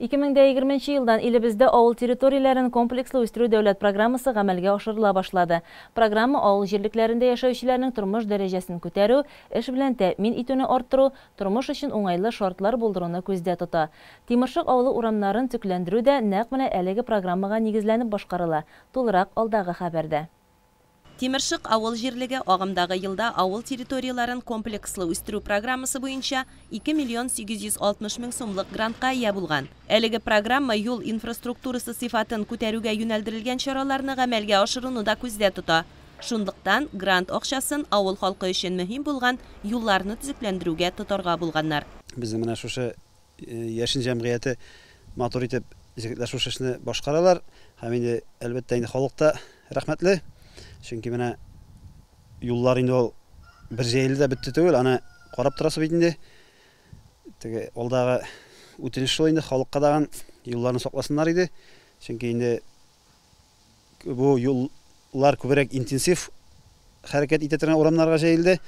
Ике мең дә егерме нче елдан илебездә авыл территорияләрен комплекслы үстерү дәүләт программасы гамәлгә ашырыла башлады. Программа авыл җирлекләрендә яшәүчеләрнең тормыш дәрәҗәсен күтәрү, эш белән тәэмин итүне арттыру, тормыш өчен уңайлы шартлар булдыруны күздә тота. Тимершык авылы урамнарын төкләндерү дә нәкъ менә әлеге программага нигезләнеп башкарыла, тулырак алдагы хәбәрдә. Тимершык авыл җирлеге агымдагы елда авыл территорияләрен комплекслы үстерү программасы буенча 2 миллион 860 мең сумлык грантка ия булган. Әлеге программа юл инфраструктурасы сыйфатын күтәрүгә юнәлдерелгән чараларны гамәлгә ашыруны да күздә тота. Шунлыктан, грант акчасын авыл халкы өчен мөһим булган юлларны төзекләндерүгә тотарга булганнар. Безнең менә шушы Яшен җәмгыяте матур итеп җегетләр шушы эшне башкаралар. Һәм инде, әлбәттә, инде халык та рәхмәтле. Чөнки менә юллар инде ул бер җәелде дә бетте түгел, аны карап торасы бит инде. Теге алдагы үтенеч шул инде халыкка дагын юлларны сакласыннар иде. Чөнки инде бу юллар күбрәк интенсив хәрәкәт итә торган урамнарга җәелде.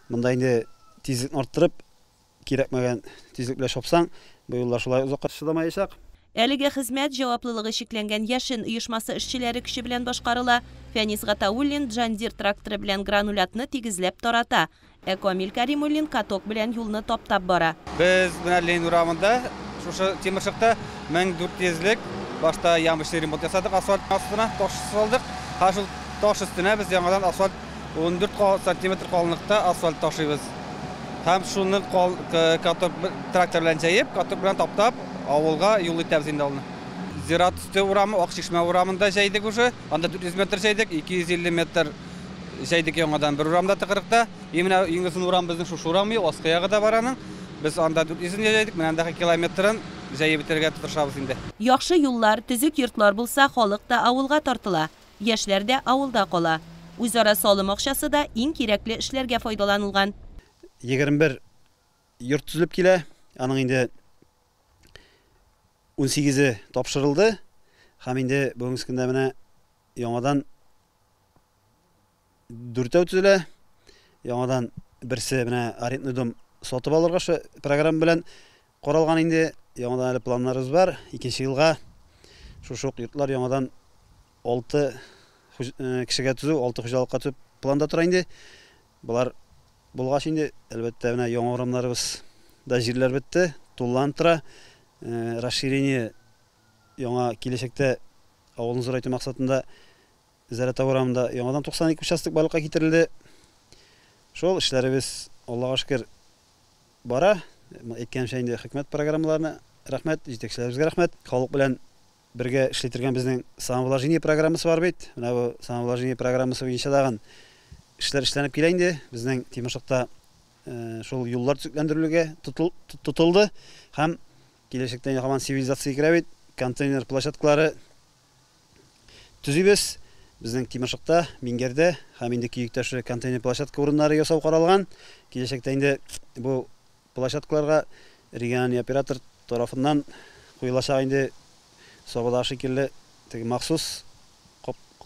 Монда инде тизлекне арттырып, Кирәкмәгән тизлек белән чапсаң, бу юллар шулай озакка чыдамаячак. Әлеге хезмәт җаваплылыгы чикләнгән Яшен оешмасы эшчеләре көче белән башкарыла. Фәнис Гатауллин Джан Дир тракторы белән гранулятны тигезләп тарата, ә Камил Кәримуллин каток белән юлны таптап бара. Без менә Ленин урамында, шушы тимершыкта 1400 лек башта ямочный ремонт ясадык, асфальт астына таш салдык. Хәзер шул таш өстенә без яңадан асфальт 14 сантиметр калынлыкта асфальт ташыйбыз. Һәм шуны каток трактор белән җәеп, каток белән таптап, авылга юл итәбез инде алны. Зират өсте урамы, Ак чишмә урамын да җәйдек уже. Анда 400 метр җәйдек, 250 метр җәйдек яңадан бер урамда тыкрыкта. И менә иң озын урам безнең шушы урам, и аскы ягы да бар аның. Без анда 400 ен җәйдек, менә андагы километрын җәеп бетерергә тырышабыз инде. Яхшы юллар, төзек йортлар булса, халык та авылга тартыла. Яшьләр дә авылда кала. Үзара салым акчасы да иң кирәкле эшләргә файдаланылган. Егерме бер йорт төзелеп килә, аның инде унсигезе тапшырылды һәм инде бүгенге көндә менә яңадан Дүртәү төзелә. Яңадан берсе менә арендный дом сатып алырга шы программа белән каралган инде. Яңадан әле планнарыбыз бар. Икенче елга шушы ук йортлар яңадан алты э, кешегә төзү, алты хуҗалыкка төзү планда тора инде. Болар булгач инде, әлбәттә, менә яңа урамнарыбыз да җирләр бетте, тулланып тора. Э, расширение яңа киләчәктә авылны зурайту максатында Зәратау урамында яңадан 92 участок барлыкка китерелде. Шул эшләребез, Аллага шөкер, бара. Әйткәнемчә инде хөкүмәт программаларына рәхмәт, җитәкчеләребезгә рәхмәт. Халык белән бергә эшли торган безнең самовложение программасы бар бит. Менә бу самовложение программасы буенча тагын эшләр эшләнеп килә инде. Безнең Тимашыкта шул юллар төзекләндерелүгә тотылды һәм киләчәктә һаман сивилизация керә бит, контейнер площадкалары төзибез. Безнең Тимершыкта, Мингәрдә һәм инде Киекташы контейнер площадка урыннары ясау каралган. Киләчәктә инде бу площадкаларга региональный оператор тарафыннан куелачак инде Сабадагы шикелле теге махсус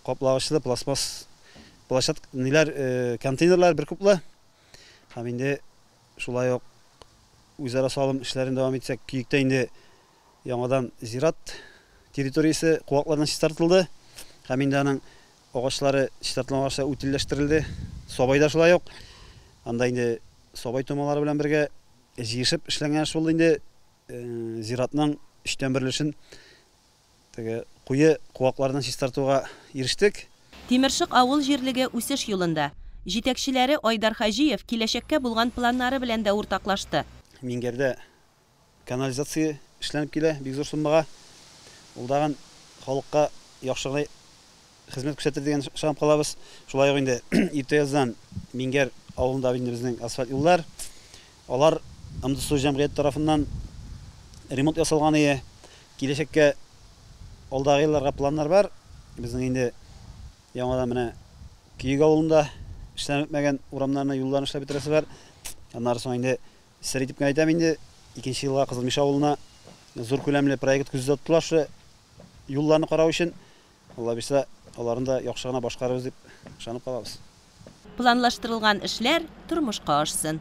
каплагычлы пластмасс площад ниләр контейнерлар бер куплы һәм инде шулай ук үзара салым эшләрен дәвам итсәк, Киектә инде Яңадан зират территориясе куаклардан чистартылды һәм инде аның агачлары, чистартылган агачлар үтелләштерелде. Сабай да шулай ук. Анда инде сабай томалары белән бергә җыешып эшләнгән эш булды инде. Зиратның өчтән бер өлешен теге куе куаклардан чистартуга ирештек. Тимершык авыл җирлеге үсеш юлында. Җитәкчеләре Айдар Хаҗиев киләчәккә булган планнары белән дә уртаклашты. Миңгәрдә Канализация эшләнеп килә бик зур суммага. Ул тагын халыкка яхшы гына хезмәт күрсәтер дигән ышанып калабыз. Шулай ук инде иртә яздан Миңгәр авылында инде безнең асфальт юллар. Алар МДСУ җәмгыяте тарафыннан ремонт ясалган ие. Киләчәккә, алдагы елларга планнар бар. Безнең инде яңадан менә Көек авылында эшләнеп бетмәгән урамнарны, юлларны эшләп бетерәсе бар. Аннары соң инде Сер итеп кенә әйтәм инде, икенче елга Кызыл Мишә авылына зур күләмле проект күздә тотылар шушы юлларны карау өчен. Аллабирса, аларны да яхшы гына башкарырбыз дип ышанып калабыз. Планлаштырылган эшләр тормышка ашсын!